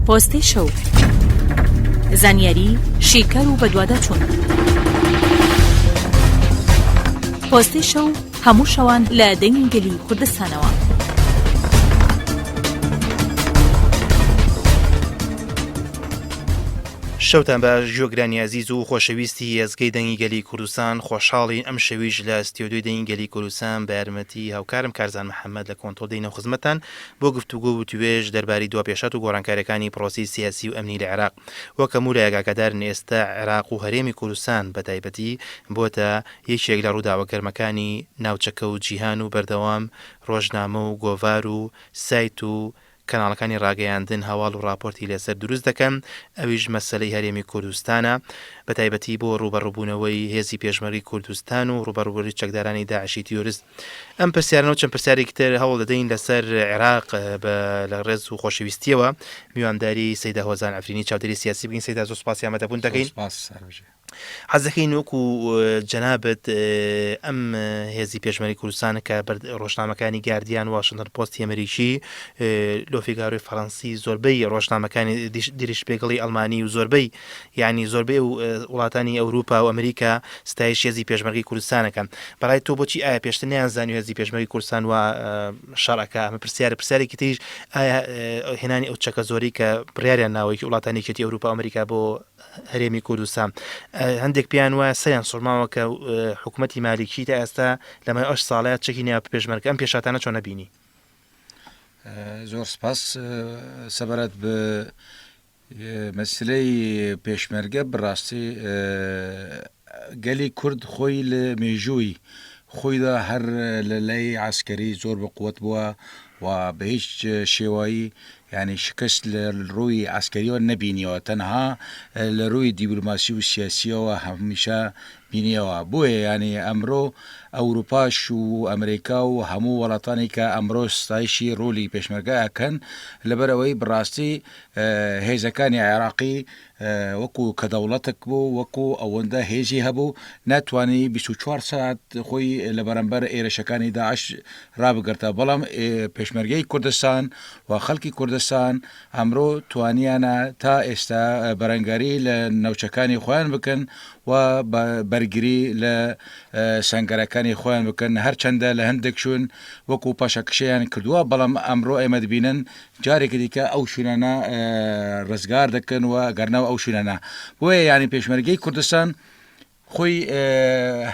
پۆستەی شەو زانیاری شیکەر و بەدواداچوون پۆستەی شەو هەموو شەوان لە دەنگی گەلی کوردستانەوە. شەوتان باش جۆگرانی ئازیز و خۆشەویستی ئێزگەی دەنگی گەلی کوردستان خۆشحاڵین ئەم شەویش لە ستیۆدوی دەنگی گەلی کوردستان بە یارمەتی هاوکارم کارزان محەممەد لە کۆنتۆدەینە خزمەتان بۆ گفتوگۆ و وتووێژ دەربارەی دوا پێشهات و گۆڕانکاریەکانی پڕۆسەی سیاسی و ئەمنی لە عێراق وەک هەموو لایەک ئاگادارن ئێستا عێراق و هەرێمی کوردستان بە تایبەتی بۆتە یەکێک لە ڕووداوە گەرمەکانی ناوچەکە و جیهان و بەردەوام ڕۆژنامە و گۆڤار و سایت و کەناڵەکانی ڕاگەیاندن هەواڵ و ڕاپۆرتی لەسەر دروست دەکەن ئەویش مەسەلەی هەرێمی کوردستانە بە تایبەتی بۆ ڕووبەڕووبوونەوەی هێزی پێشمەرگەی کوردستان و ڕووبەڕووبوونەوەی چەکدارانی داعشی تیۆرست ئەم پرسیارنەوە چەند پرسیارێکی تر هەوڵ دەدەین لەسەر عێراق بە لە ڕێز و خۆشەویستیەوە میوانداری سەدا هۆزان ئەفرینی چاودێری سیاسی بگین سەدا زۆر سپاسی ئەمەدەبوون دەکەین حەزەکەی نوک و جەنابەت ئەم هێزی پێشمەری کوردستانە کە ڕۆژنامەکانی گردیان واشنگتن پۆستی ئەمریکی لۆفیگاروی فەڕەنسی زۆربەی ڕۆژنامەکانی دریش پێگەڵی ئەلمانی و زۆربەی یانی زۆربەی وڵاتانی ئەوروپا و ئەمریکا ستایش هێزی پێشمەرگەی کوردستان ئەکەن بەڕای تۆ بۆچی ئایا پێشتر نیان زانیو هێزی پێشمەرگەی کوردستان و شەڕەکە ئەمە پرسیارە پرسیارێکی تریش ئایا هێنانی ئەو چەکە زۆری کە بڕیاریان ناوەیەکی وڵاتانی کێتی ئەوروپا ئەمریکا بۆ هەرێمی کوردستان هەندێک پێیان وایە سەیان سوورماوە کە حکوومەتتی مالیکی تا ئێستا لەمە ئەش ساڵەیە چەکی نیا پێشمەرگە ئەم پێشاتانە چۆنە بینی زۆر سپاس سەبارەت بە مەسلەی پێشمەرگە بڕاستی گەلی کورد خۆی لە مێژووی خۆیدا هەر لە لای عسکەری زۆر بە قوت بووە و بە هیچ شێوایی ینی شکست لە ڕووی عسکەریەوە نەبینیەوە تەنها لە ڕووی دیبلوماسی و سیاسیەوە هەمیشە بینیەوە بۆیە ینی ئەمرۆ ئەوروپاش و ئەمریکا و هەموو وڵاتانی کە ئەمرۆ ستایشی ڕۆلی پێشمەرگەکەن لەبەرەوەی بڕاستی هێزەکانی عێراقی وەکو کە دەوڵەتەک بوو وەکو ئەوەندە هێزی هەبوو ناتوانانی 24 سات خۆی لە بەرەمبەر ئێرشەکانی داعش رابگرتە بەڵام پێشمەرگەی کوردستان و خەڵکی کوردستان ئەمرۆ توانیانە تا ئێستا بەرەنگاری لە نەوچەکانی خۆیان بکەن و بەرگری لە سنگەرەکانی خۆیان بکەن هەرچەندە لە هەندێک شوون وەکو پاشەکشیان کردووە بەڵام ئەمرۆ ئێمە دبینن جارێکی دیکە ئەو شوێنانە ڕزگار دەکەن و گەرناو ئەو شوێنانە بۆیە یانی پێشمەرگەی کوردستان خۆی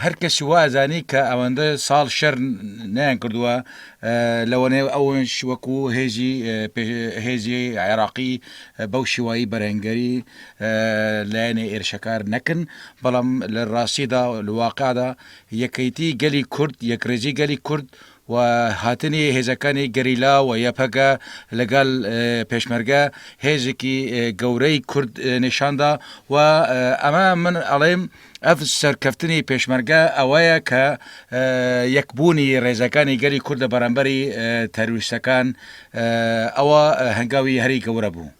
هەر کەسی وازانی کە ئەوەندە ساڵ شەر نیان کردووە لەوەێ ئەوەش وەکو هێزی هێزی عێراقی بەو شیوایی بەرەنگەری لایەنە ئێرشەکار نەکن بەڵام لە ڕاستیدا لەواقعدا یەکەیتی گەلی کورد یەکڕێزی گەلی کورد و هاتنی هێزەکانی گەریلا و یەپەگە لەگەڵ پێشمەرگە هێزێکی گەورەی کورد نیشاندا و ئەمە من ئەڵێم ئەف سەرکەفتنی پێشمەرگە ئەوەیە کە یەکبوونی ڕێزەکانی گەلی کوردە بەرامبەری تەرویستەکان ئەوە هەنگاوی هەری گەورە بوو.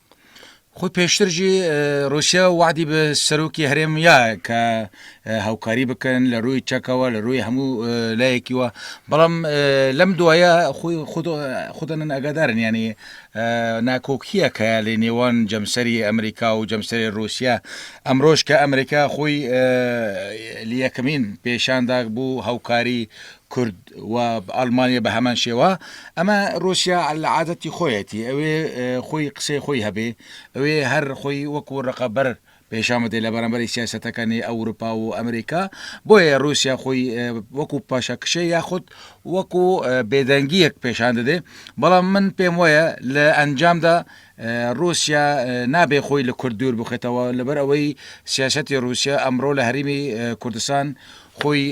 خۆ پێشترژی رووسیا وادی بە سەرۆکی هەرێم یا کە هاوکاری بکەن لە ڕووی چەکەوە لە ڕووی هەموو لایەکیوە بەڵام لەم دوایە خۆی خودن ئەگەدارن ینی ناکۆکیە کە لە نێوان جەمسەری ئەمریکا و جەمسەری رووسیا ئەمرۆژ کە ئەمریکا خۆی یەکەمین پێشانداک بوو هاوکاری کورد و ئەڵمانیا بە هەمان شێوە ئەمە رووسیا لە عادەتی خۆیەتی ئەوێ خۆی قسەی خۆی هەبێ ئەوێ هەر خۆی وەکو ڕقەبەر پێشامەدە لە بەرامبەری سیاستەکانی ئەوروپا و ئەمریکا بۆیە رووسیا خۆی وەکو پاشە کشێ یاخود وەکو بێدەنگیەک پێشان دەدێ بەڵام من پێم وایە لە ئەنجامدا رووسیا نابێ خۆی لە کورد دوور بخێتەوە لەبەر ئەوەی سیاستی رووسیا ئەمڕۆ لە هەرمی کوردستان خۆی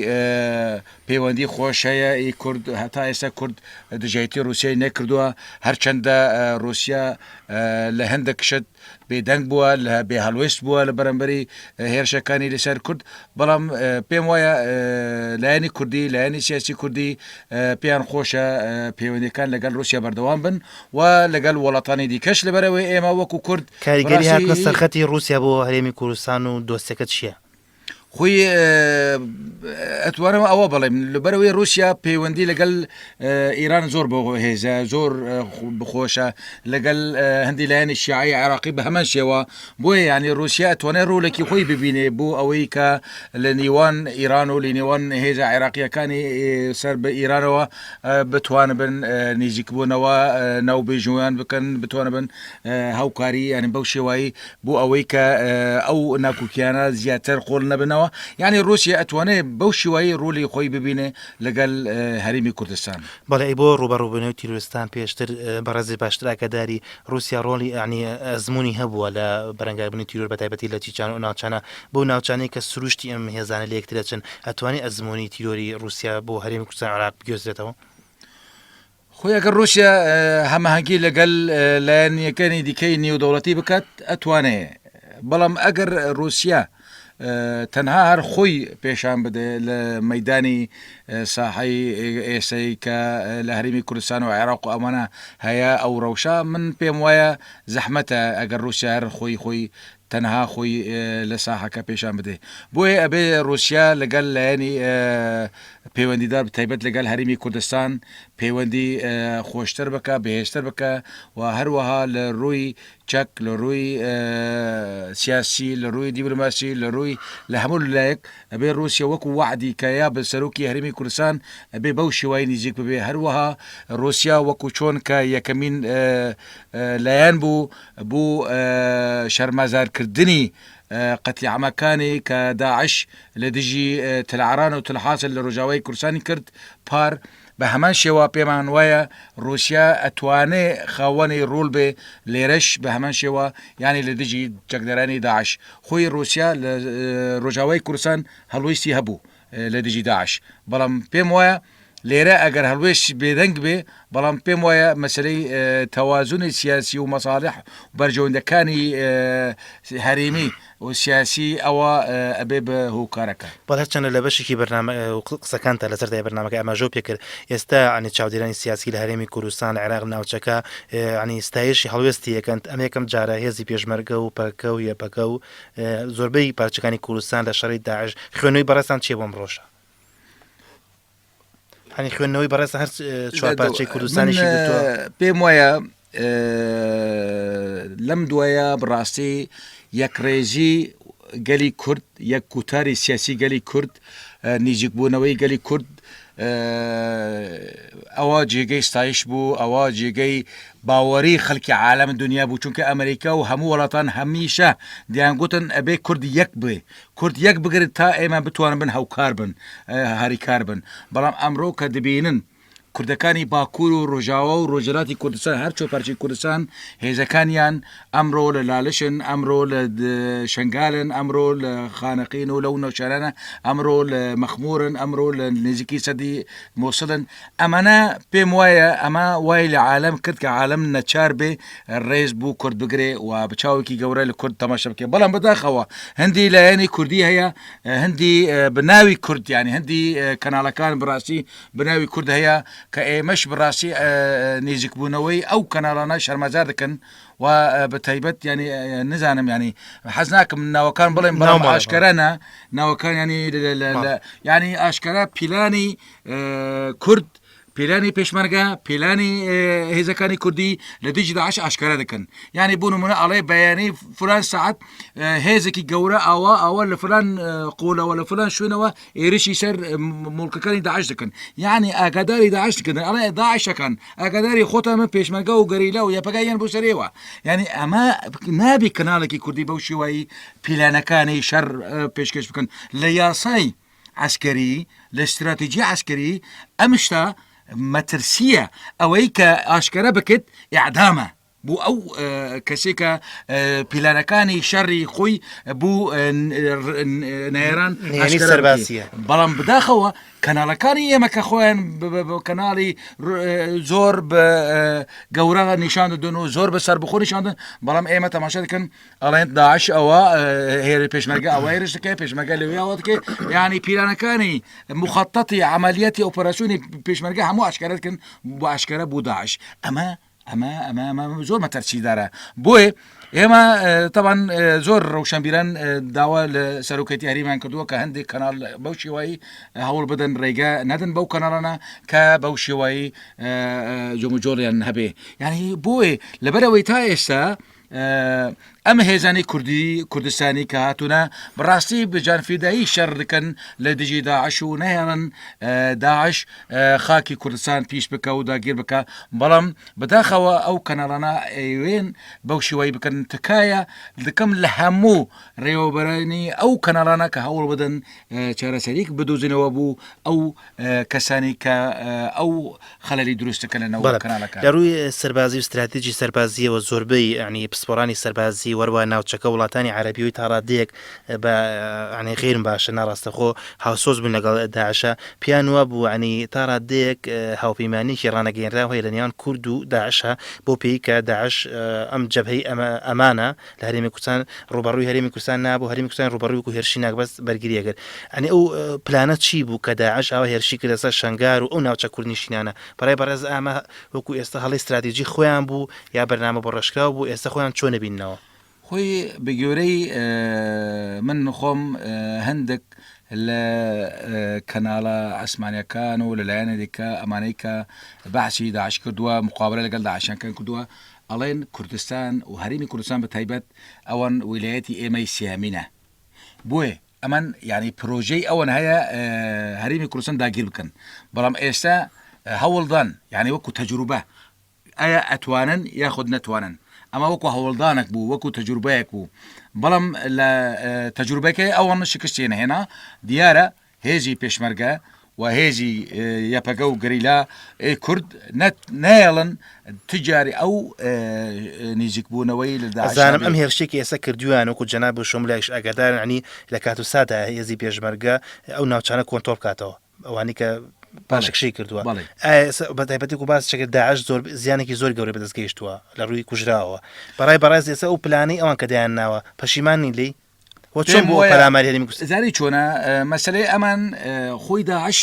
پەیوەندی خۆش هەیە ئی کورد هەتا ئێستا کورد دژایتی روسیای نەکردوە هەرچەندە روسیا لە هەندەک شت بێ دەنگ بوە لە بێ هەڵوێست بوە لە بەرەمبەری هێرشەکانی لە سەر کورد بەڵام پێم وایە لایەنی کوردی لایەنی سیاسی کوردی پێیان خۆشە پەیوەندەکان لەگەل روسیا بەردەوام بن و لەگەل وەڵاتانی دیکەش لەبەرەوەی ئێمە وەکو کورد کاریگەری هاتنە سەرخەتی روسیا بۆ هەرێمی کوردستان و دۆسیەکە چیە؟ خوی ئەتوارەوە ئەوە بڵێم لەبەرەوەی رووسیا پەیوەندی لەگەل ئیران زۆر بۆ هێزە زۆر بخۆشە لەگەل هەندی لایەنی شیعی عراقی بە هەمان شێوە بۆیە ینی رووسیا توانێ ڕوولێکی خۆی ببینێ بۆ ئەوەی کە لە نیوان ئیران و لە نێوان هێزە عێراقیەکانی سەر بە ئیرانەوە بتوان بن نزیکبوونەوە ناو بێژویان بکەن بتوانە بن هاوکاری ینی بەو شێوایی بۆ ئەوەی کە ئەو ناکوکیانە زیاتر قۆل نەبنەوە یعنی رووسیا ئەتوانێ بەو شیوایی رۆلی خۆی ببینێ لەگەل هەرمی کوردستان. بەڵێ ئەی بۆ ڕووبەڕووبونەوەی تیرۆرستان پێشتر بەڕێزی باشتر ئاگاداری ڕوسیا ڕۆڵی یانی ئەزموونی هەبووە لە بەرەنگاربونی تیرۆر بەتایبەتی لە چیچان و ناوچانە بەو ناوچانەی کە سروشتی ئەم هێزانە لە یەکترەچن ئەتوانێ ئەزموونی تیرۆری ڕوسیا بۆ هەرێمی کوردستان عێراق بگوێزرێتەوە؟ خۆی ئەگەر ڕووسیا هەماهەنگی لەگەل لایەنیەکانی دیکەی نێودەوڵەتی بکات ئەتوانێ بەڵام ئەگەر ڕووسیا تەنها هەر خۆی پێشان بدە لە مەدانی ساحی ئێسەی کە لە هەرمی کوردستان و عێراق و ئەمانە هەیە ئەو ڕەوشە من پێم وایە زەحمەتە ئەگەر ڕووسیا هەر خۆی خۆی تەنها خۆی لە ساحەکە پێشان بدەێ بۆیە ئەبێ روسیا لەگەل لایەنی پەیوەندیدار بتایبەت لەگەل هەرمی کوردستان پەیوەندی خۆشتر بکە بەهێزتر بکە و هەروەها لە رووی چەک لە رووی سیاسی لە رووی دیبلوماسی لە رووی لە هەموو لایەک ئەبێ روسیا وەکو وعدی کە یا بە سەرۆکی هەرمی کوردستان ئەبێ بەو شێوای نزیک ببێ هەروەها روسیا وەکو چۆن کە یەکەمین لایەن بوو بۆ شەرمەزار کردنی قەتلیعامەکانی کە داعش لە دژی تلعران و تلحاسن لە رۆژاوای کوردستانی کرد پار، بە هەمان شێوە پێمان وایە روسیا ئەتوانێ خاوەنی رۆل بێ لێرەش بە هەمان شێوە یانی لە دژی چەکدارانی داعش خۆی روسیا لە رۆژاوای کوردستان هەڵویستی هەبوو لە دژی داعش بەڵام پێم وایە لێرە ئەگەر هەڵوێستی بێدەنگ بێ، بەڵام پێم وایە مەسەلەی تەوازونی سیاسی و مەساڵح و بەرژەوەندەکانی هەرێمی و سیاسی ئەوە ئەبێ بە هۆکارەکە. بەڵ هەرچەنە لە بەشێکی بەرنامە قسەکانتە لەسەر دای بەرنمەکە ئەماژۆ پێکرد ئێستا عنی چاودێرانی سیاسی لە هەرێمی کوردستان عێراق ناوچەکە عنی ستایشی هەڵوێستی یەکەند ئەم یەکەم جارە هێزی پێشمەرگە و پەکە و یەپەکە و زۆربەی پارچەکانی کوردستان لە شەڕی داعش خوێنەوەی بەڕێستان چیە بۆم ڕۆژە هەنی خوێندنەوەی بەڕێز هەر چوار پارچەی کوردستانی پێم وایە لەم دوایە بڕاستی یەکڕێژی گەلی کورد یەک کوتاری سیاسی گەلی کورد نزیکبوونەوەی گەلی کورد ئەوە جێگەی ستایش بوو ئەوە جێگەی باوەری خەڵکی عالم دنیا بوو چونکە ئەمریکا و هەموو وڵاتان هەمیشە دیانگوتن ئەبێ کورد یەک بێ کورد یەک بگرن تا ئێمە بتوانن بن هەوکار بن هاریکار بن بەڵام ئەمرۆ کە دبینن کوردەکانی باکور و رۆژاوا و رۆژهەلاتی کوردستان هەر چوار پارچەی کوردستان هێزەکانیان ئەمرۆ لە لالشن ئەمرۆ لە شەنگالن ئەمرۆ لە خانەقین و لەو ناوچانانە ئەمرۆ لە مەخمورن ئەمرۆ لە نزیکی سەدی موسڵن ئەمەنە پێم وایە ئەمە وای لە عالم کرد کە عالم نەچار بێ ڕێز بوو کورد بگرێ و بچاوێکی گەورە لە کورد تەماشە بکە بەڵام بەداخەوە هەندی لایەنی کوردی هەیە هەندی بناوی کوردیانی هەندی کەناڵەکان بڕاستی بناوی کورد هەیە کە ئێمەش بڕاستی نێزیکبوونەوەی ئەو کەناڵانە شەرمەزار دەکەن و بە تایبەت ینی نزانم ینی حەز ناکەم ناوەکان بڵێم بەڵام ئاشکەرانە ناوەکان ینی ینی ئاشکەرا پیلانی کورد پیلانی پێشمەرگە پیلانی هێزەکانی کوردی لە دژی داعش ئاشکارا دەکەن یعنی بۆ نمونە ئەڵێ بەیانی فران سعات هێزێکی گەورە ئاوا ئەوە لە فران قۆلەوە لە فران شوێنەوە ئێرشی سەر مڵکەکانی داعش دەکەن یعنی ئاگاداری داعش کردن ئەڵێ داعشەکان ئاگاداری خۆتانە پێشمەرگە و گەریلا و یەپەگایان بۆ سەرێەوە یعنی ئەمە نابی کەناڵێکی کوردی بەو شێوایی پیلانەکانی شەر پێشکەش بکەن لە یاسایی عەسکەری، لە ستراتیجی عەسکەری ئەم شتە مەترسییە، ئەوەی کە ئاشکەرا بکت ئیعدامە بۆ ئەو کەسێک کە پیلانەکانی شەڕی خۆی بۆ نێران سەرباسیە بەڵام بداخەوە کەناڵەکانی ئێمە کە خۆیان کەناڵی زۆر بە گەورە نیشان دەدون و زۆر بە سەر بخۆ نیشاندن بەڵام ئێمە تەماشا دەکەن ئەڵێن داعش ئەوە هێرە پێشمەرگە ئەوەی رشتەکەی پێشمەگە لەوێ ئەوەکە ینی پیرانەکانی مخەتەتی عملیاتی ئەو پەرسوونی پێشمەرگە هەموو ئاشکارەتکن بۆ ئاشکارە بوو داعش ئەمە ئەمە ئەمە ئەمە زۆر مەتەرچیدارە بۆیە ئێمە تاوان زۆر ڕەوشەمبیران داوا لە سەرۆکەتی هەریمان کردووە کە هەندێک کەناڵ بەو شێوایی هەوڵ بدەن ڕێگە نەدن بەو کەناڵانە کە بەو شێوایی جموجۆڵیان هەبێ یعنی بۆیە لەبەرەوەی تا ئێستا ئەم هێزانی کوردی کوردستانی کە هاتوونە بڕاستی بجانفیدایی شەڕ دکەن لە دژی داعش و نەهێڵن داعش خاکی کوردستان پیش بکە و داگیر بکە بەڵام بەداخەوە ئەو کەناڵانە ئەوێن بەو شێوایی بکەن تکایە دکەم لە هەموو ڕێوەبەرانی ئەو کەناڵانە کە هەوڵ بدەن چارەسەریک بدوزنەوە بوو ئەو کەسانی کە ئەو خەلری دروستەکە لە نەوە کەناڵەکە لە ڕووی سەربازی و استراتیجی سەربازیەوە زۆربەی عنی پسپۆرانی سەربازی وەروە ناوچەکە وڵاتانی عربیەوەی تاڕادەیەک بە عنی غیرم باشە ناڕاستەخۆ هاوسۆز بوون لەگەڵ داعشە پیان وا بوو عنی تاڕادەیەک هاوپەیمانێکی ڕانەگەێنراوهەیە لە نێوان کورد و داعشە بۆ پێیکە داعش ئەم جەبهەی ئەمانە لە هەرێمی کوردستان ڕووبەڕووی هەرێمی کوردستان نابوو هەرێمی کوردستان ڕووبەڕووی وەکوو هێرشی ناکبەس بەرگرییە کرد یانی ئەو پلانە چی بوو کە داعش ئەوە هێرشی کردە سەر شەنگار و ئەو ناوچە کوردنشینانە بەڕێ بەڕێز ئامە وەکوو ئێستا هەڵی استراتیجی خۆیان بوو یا بەرنامە بۆ ڕێژکراو بوو ئێستا خۆیان چۆن نبینەوە خۆی بە گوێرەی من خۆم هەندێک لە کەناڵە ئەسمانەکان و لەلایەنە دیکە ئەمانەی کە بەعسی داعش کردووە مقابلە لەگەڵ داعشیان کردووە ئەڵێن کوردستان و هەرێمی کوردستان بە تایبەت ئەوان ویلایەتی ئێمەی سێیەمینە بۆیە ئەمن یعنی پرۆژەی ئەوەن هەیە هەرێمی کوردستان داگیر بکەن بەڵام ئێستا هەوڵدان یعنی وەکو تەجروبە ئایا ئەتوانن یاخود نەتوانن ئەمە وەکو هەوڵدانێک بوو وەکو تەجروبەیەک بوو بەڵام لە تەجروبەکەی ئەوان شکستێن هێنا دیارە هێزی پێشمەرگە و هێزی یەپەگە و گەریلا ی کورد نایەڵن تجاری ئەو نزیکبوونەوەی لە دازانم ئەم هێرشێکی ئێستا کردویان وکو جەناب و شم لایش ئەگەدارنی لە کات و سادا هێزی پێشمەرگە ئەو ناوچانە کۆنتۆڵ بکاتەوە ئەوانی کە پاشکشی کردووە بەتایبەتی و باس چەکە داعش زۆر زیانێکی زۆر گەورە بەدەست گەیشتووە لە ڕووی کوژراوە بەڕای بەڕێز ئێستا ئەو پلانەی ئەوان کە دایان ناوە پەشیمانی لی چۆن بۆ پەلاماری هەرێمی کوردستان زاری چۆنە مەسلەی ئەمان خۆی داعش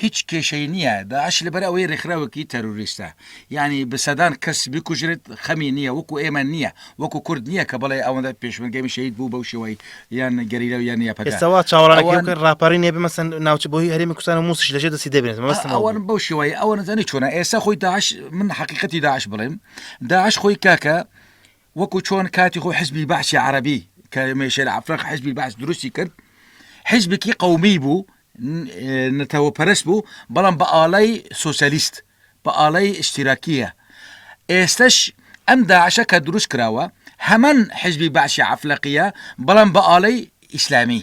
هیچ کێشەی نییە داعش لەبەر ئەوەی ڕێکخراوەکی تەروریستە یعنی بەسەدان کەس بکوژرێت خەمی نییە وەکو ئێمە نییە وەکو کورد نییە کە بڵێ ئەوەندە پێشمەگەمی شەید بوو بەو شێوەی یان گەریرە یان یاپەسەوە چاوەڕەکە ڕاپەڕی نێ بمەسن ناوچە بۆی هەرێمی کوردستان و موسیش لەژێ دەسی دەبێت مەستن ئەوەن بەو شێوەی ئەوە نزانانی چۆنە ئێستا خۆی داعش من حقیقەتی داعش بڵێم داعش خۆی کاکە وەکو چۆن کاتی خۆی حزبی بەعسی عەرەبی کە مێشێل عەفرەق حزبی بەعس دروستی کرد حزبکی قومی بوو نەتەوە پەرست بوو بەڵام بە ئاڵای سوسیالیست بە ئاڵای ئشتیراکیە ئێستش ئەم داعشە کە دروست کراوە هەمان حزبی بەعسی عفلەقیە بەڵام بە ئاڵای ئیسلامی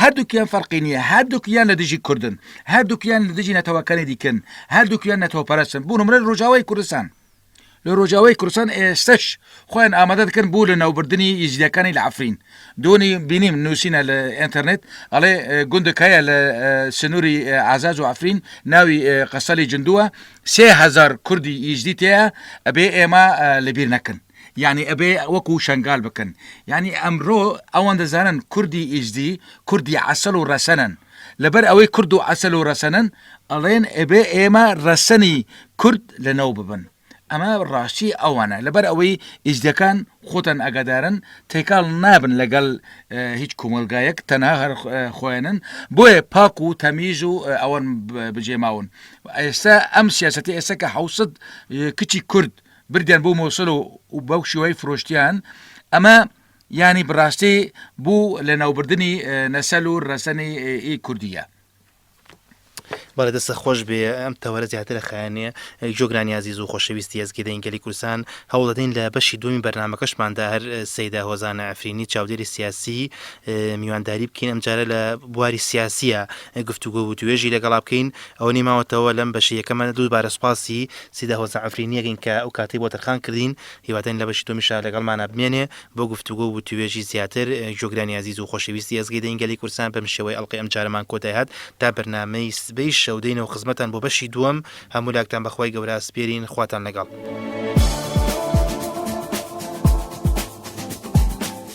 هەردووکیان فەرقی نییە هەردووکیان لە دژی کوردن هەردووکیان لە دژی نەتەوەکانی دیکەن هەردووکیان نەتەوەپەرستن بوون مرە ڕۆژاوای کوردستان لە ڕۆژاوای کوردستان ئێستش خۆیان ئامادە دەکەن بوو لە ناوبردننی ئیزیەکانی لە عفرین دۆنی بینیم نووسینە لە ئەتەرنێت ئەڵێ گوندەکایە لە سنووری ئازاز و عفرین ناوی قەسەلی جندووە سهزار کوردی ئیزدی تەیە ئەبێ ئێمە لەبیر نەکەن یانی ئەبێ وەکو شەنگال بکەن یانی ئەمرۆ ئەوان دەزانن کوردی ئیزدی کوردی عەسەل و رەسەنن لەبەر ئەوەی کورد و عەسەل و رەسەنن ئەڵێن ئەبێ ئێمە رەسەنی کورد لەناو ببەن ئەمە راستی ئەوانە لەبەر ئەوەی ئیزدیەکان خۆتان ئەگادارن تێکەڵ نابن لەگەڵ هیچ کۆمەلگایەک تەنها هەر خۆیانن بۆیە پاک و تەمیز و ئەوان بجێماون ئێستا ئەم سیاسەتی ئێستا کە حوسد کچی کورد بردیان بۆ مۆسل و بەو شێوەی فرۆشتیان ئەمە یانی بڕاستی بوو لە ناوبردنی نەسەل و ڕەسەنی ئی کوردیە بەڵێ دەستە خۆش بێ ئەم تەوەرە زیاتر لە خایانێ جۆگرانی عزیز و خۆشەویستی ئەزگی دەین گەلی کوردستان هەوڵدەین لە بەشی دومی بەرنمەکەشماندا هەر سەیدا هۆزانە ئەفرینی چاودێری سیاسی میوانداری بکەین ئەمجارە لە بواری سیاسیە گفتوگۆ و توێژی لەگەڵا بکەین ئەو نیماوەتەوە لەم بەشی یەکەمە دووبارە سپاسی سیدا هۆزە عەفرینیەکین کە ئەو کاتەی بۆ تەرخان کردین، هیوادارین لە بەشی دومیشا لەگەڵمانا بمێنێ بۆ گفتوگۆ و وتووێژی زیاتر. گوێگرانی ئازیز و خۆشەویستی ئێزگەی دەنگی گەلی کوردستان بەم شێوەیە ئەڵقەی ئەم جارەمان کۆتای هات تا بەرنامەی سبەی شەو دێینەوە خزمەتان بۆ بەشی دووەم هەموو لاکتان بە خوای گەورە ئەسپێرین خواتان لەگەڵ.